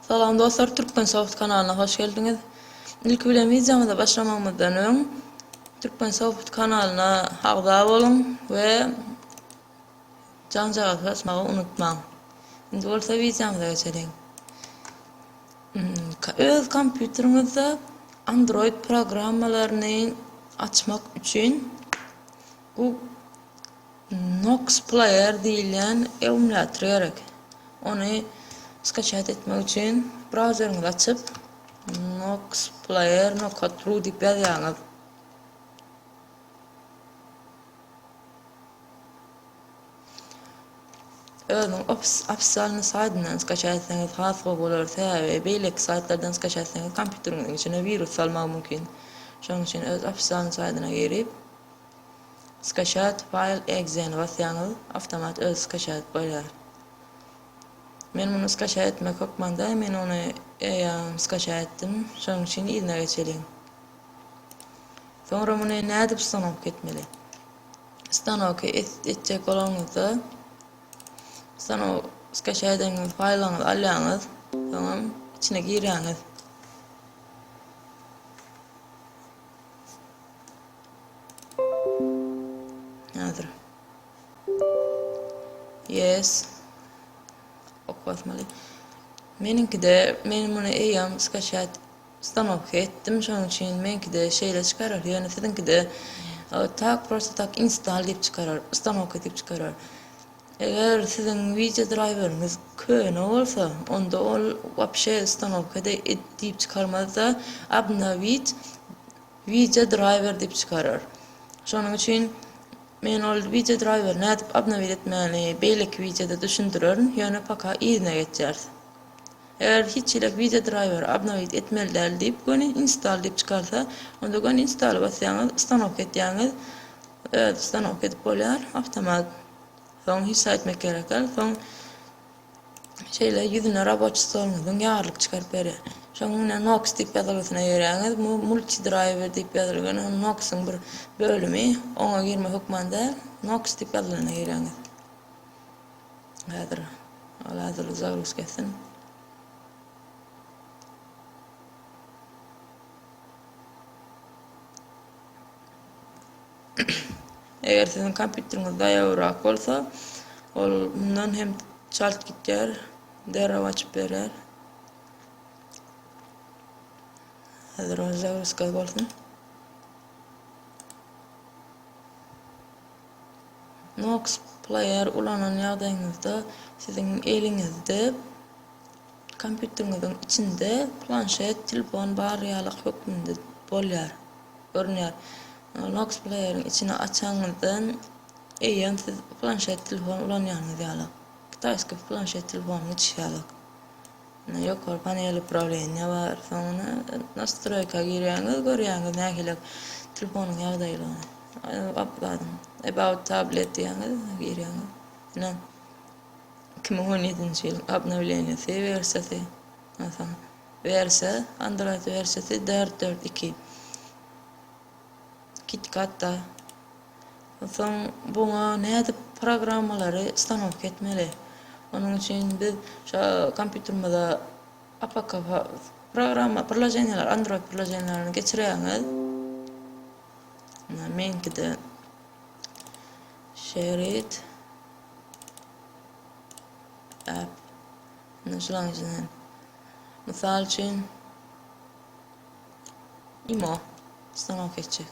Salam dostlar Türkmensoft kanalyna hoş geldiňiz. Ilki bilen wideomyza başlamagymyzdan öň Türkmensoft kanalyna agza boluň we janjagaz basmagy unutmaň. Indi bolsa wideomyza geçeliň. Öz kompýuteriňizde Android programmalaryny açmak üçin Bu Nox Player diýilýän emulýator gerek. Ony skaçat etmek üçin brauzeriňizi açyp, Nox Player nokatru diýip ýazýaňyz. Özüniň ofisalny saýdyndan skaçat etseňiz has gowy bolar, sebäbi beýleki saýtlardan skaçat etseňiz kompýuteriňiziň içine wirus salmagy mümkin. Şonuň üçin öz ofisalny saýdyna girip, Skachat file exe-ni basýaňyz, awtomat özi skachat bolýar. Men muny skachat etmek hökmanda, men ony eýýam skachat etdim, şonuň üçin yzyna geçeliň. Soňra muny nädip stanok etmeli? Stanoky etjek bolanyňyzda, stanok skachat edeniňiz faýlyňyzy alýaňyz, soňam içine girýäňiz. Häzir. Yes. Ok basmaly. Meniňkide men muny eýýäm skaçat stanovka etdim. Şonuň üçin meniňkide şeýle çykarar. Ýöne siziňkide e, tak prosta tak install diýip çykarar, ustanowka diýip çykarar. Eger siziň wideo draýweriňiz köne bolsa, onda ol wapşe ustanowkada diýip çykarmazda obnowit wideo draýwer diýip çykarar. Şonuň üçin men ol wideo draýweri nädip obnowit etmäni beýleki wideoda düşündirerin, ýöne paka yzyna geçýäris. Eger hiç hilek wideo draýweri obnowit etmeli däl diýip göni install diýip çykarsa, onda göni install basýaňyz, ustanowka etýäňiz, Öz stanok edip bolýar awtomat soň hisa etmek gerekar soň şeýle ýüzüne raboçi stoluňyzyň ýarlyk çykaryp berýär şoň ine noks diýip ýazylgysyna ýöräňiz bu multi draýwer diýip ýazylgan ol noksyň bir bölümi oňa girme hökman däl noks diýip ýazylana girýäňiz häzir hal hazirda zagruska etsin Eger siziň kompýuteriňiz daýawrak bolsa, ol mundan hem çalt gitýär, derrew açyp berýär. Häzir ol zagruska bolsun. Nox player ulanan ýagdaýyňyzda siziň eliňizde Kompýuteriňiziň içinde planşet, telefon bar ýalyk hökmünde bolýar, görünýär. Nox Player-iň içini açanyňyzdan eýýäm siz planşet telefon ulanýanyňyz ýalyk. Kitaýskiý planşet telefonyň içi ýalyk. Ine, ýokary panel uprawleniýa bar. Soňra Nastroýka girýäňiz, görýäňiz nähiliräk telefonyň ýagdaýlygyny. About tablet diýýäňiz, girýäňiz. Ine. Iki müň on ýedinji ýyl obnowleniýasy wersiýasy, ondan soň wersiýa, Android wersiýasy dört dört iki. KitKat-da. Onsoň buňa nädip programmalary stanowka etmeli? Onuň üçin biz şa kompýuterimize APK programma, priloženiýalar, Android priloženiýalaryny geçirýäňiz. Meňkide şerit. Mysal üçin, imo ustanowka etjek.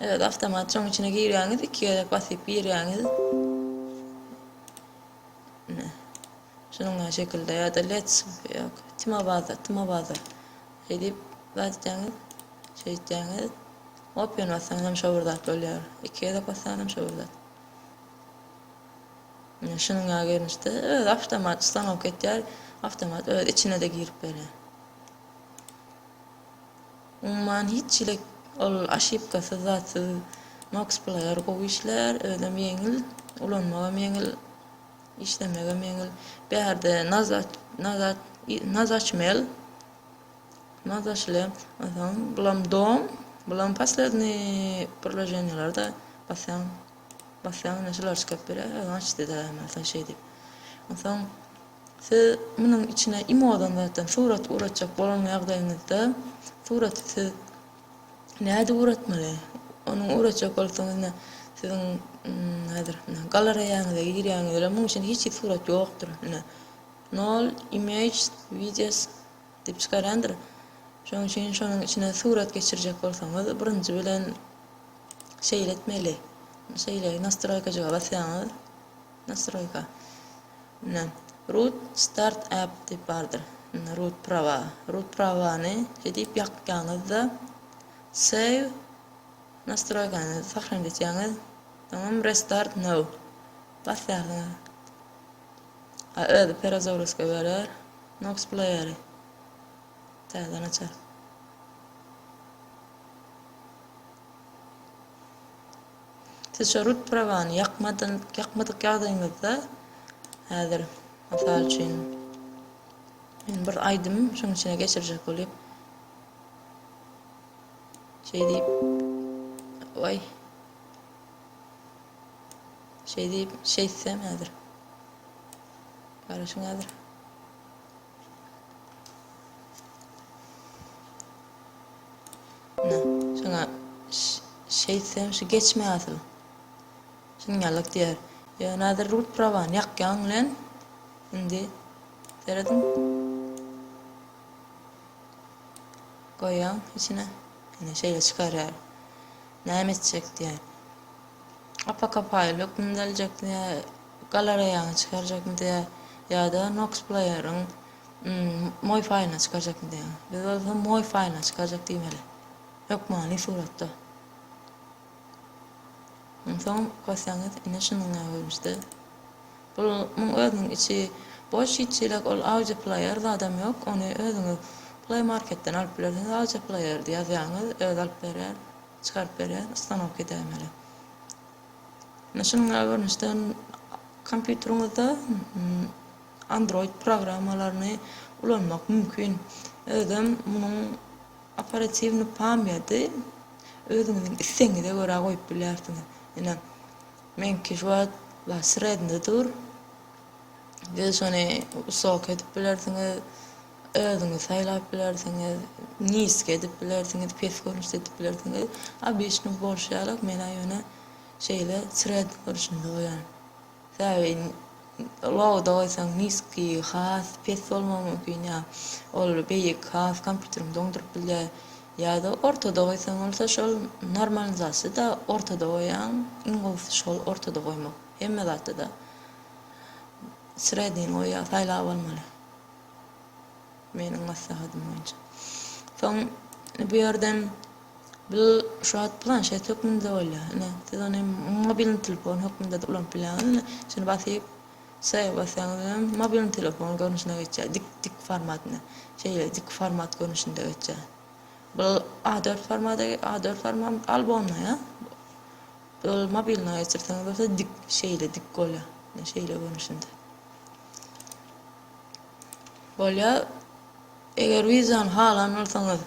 Evet, avtomat şoň içine girýäňiz, iki gezek basyp girýäňiz. Ne? Şunuň ýa şekilde ýa-da let's ýok. Timo baza, timo baza. Edip, gatýaňyz, şeýtýäňiz. Opiýan bassaňyz hem şo bir zat bolýar. Iki gezek bassaňyz hem şo bir zat. Ine, şunuň ýaly görnüşde özi awtomat ustanok etýär. Awtomat öz içine-de girip berýär. Umuman hiç hili ol aşipkasyz zatsyz Nox player gowy işlär, özem ýeňil, ulanmagam ýeňil, işlemegem ýeňil. Bärde nazat, nazat, nazatmel, Mazaşle asaň bulam dom bulam posledniý priloženiýalarda basýaň basýaň ine şular çykyp biler öziň aç dede masaý şeý diýip onsoň siz munuň içine imodan zatdan surat uratjak bolan ýagdaýyňyzda suraty siz näde uratmaly onuň uratjak bolsaňyz ine siziň häzir ine galareýaňyza girýäňiz bilen munuň içinde hiç hili surat ýokdur ine Nol images videos diýip çykarýandyr. Şonuň üçin şonuň içine surat geçirjek bolsaňyz birinji bilen şeýle etmeli. Şeýle nastroýkajyga basýaňyz. Nastroýka. Ine. Root start app diýip bardyr. Ine root prawa. Root prawany şeýdip ýakýaňyzda save nastroýkany sahranit etýäňiz. Soňam restart now basýarsyňyz. A özi perazowruska berer. Nox playeri täzeden açar. Siz şo rut prawany ýakmadan ýakmadyk ýagdaýyňyzda häzir mysal üçin men bir aýdym şuň içine geçirjek bolýan. Şeýdip. Oý. Şeý diýip, şeýtsem häzir. Garaşyň häzir. Na, şoňa şeýtsem şu geçme asyl. Şunýalyk diýer. Ýöne häzir rut prawany ýakýaň bilen indi serediň. Goýaň içine. Ine şeýle çykarýar. Näme etjek diýýä. Apaka faýl hökmünde aljak diýýä, galareýaňa çykarjakmy diýýä, ýa-da Noxplayer-iň moý faýlyna çykarjakmy diýýä. Biz bolsa moý faýlyna çykarjak diýmeli. Hökmany suratda. Onsoň basýaňyz, ine şunuň ýaly görnüşde. Bul muň özüniň içi boş hiç çilek ol audio player zadam yok ony özüňiz play marketden alyp bilersiňiz audio player di ýazýaňyz özi alyp berýär çykaryp berýär ustanowka dämeli ine şunuň ýaly görnüşden kompýuteriňizde android programmalaryny ulanmak mümkin özem munuň operatiwny pamýady özüňiziň islegiňize görä goýup bilýärsiňiz ine Meňki juwat bla sredny dur. Siz şony wysok edip bilersiňiz, özüňiz saýlap bilersiňiz, niski edip bilersiňiz, pes görnüşde edip bilersiňiz. Obyçnyý bolşy ýalyk men-ä ýöne şeýle sredny görnüşinde goýan. Sebäbi low-da goýsaň niski, has pes bolmagy mümkin ýa ol beýik has kompýuteriňi doňduryp bilýär. Ýa-da ortada goýsaň bolsa şol normalizasiýada ortada goýaň iň gowusy şol ortada goýmak hemme zatda-da sredini goýýa saýlap almaly meniň maslahatym boýunça soň indi bu ýerden bil şu wagt planşet hökmünde bolýa ine siz ony mobilni telefon hökmünde-de ulanyp bilýäňiz ine şuny basyp Şeýle basýaňyz hem mobilni telefon görnüşine geçýär, dik dik formatyna. Şeýle dik format görnüşinde geçýär. Bul A dört formady, A dört forman albomna ýa. Ol mobilna geçirseňiz bolsa dik, şeýle dik bolýar. Ine şeýle görnüşinde. Bolýar. Eger wideony halan bolsaňyz,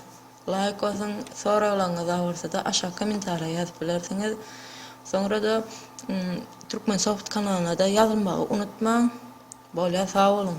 Laýk basyň, soraglaryňyz agyrsa-da aşak kommentariýa ýazyp bilersiňiz. Soňra-da Turkmensoft kanalyna-da ýazylmagy unutmaň. Bolýar, sag boluň!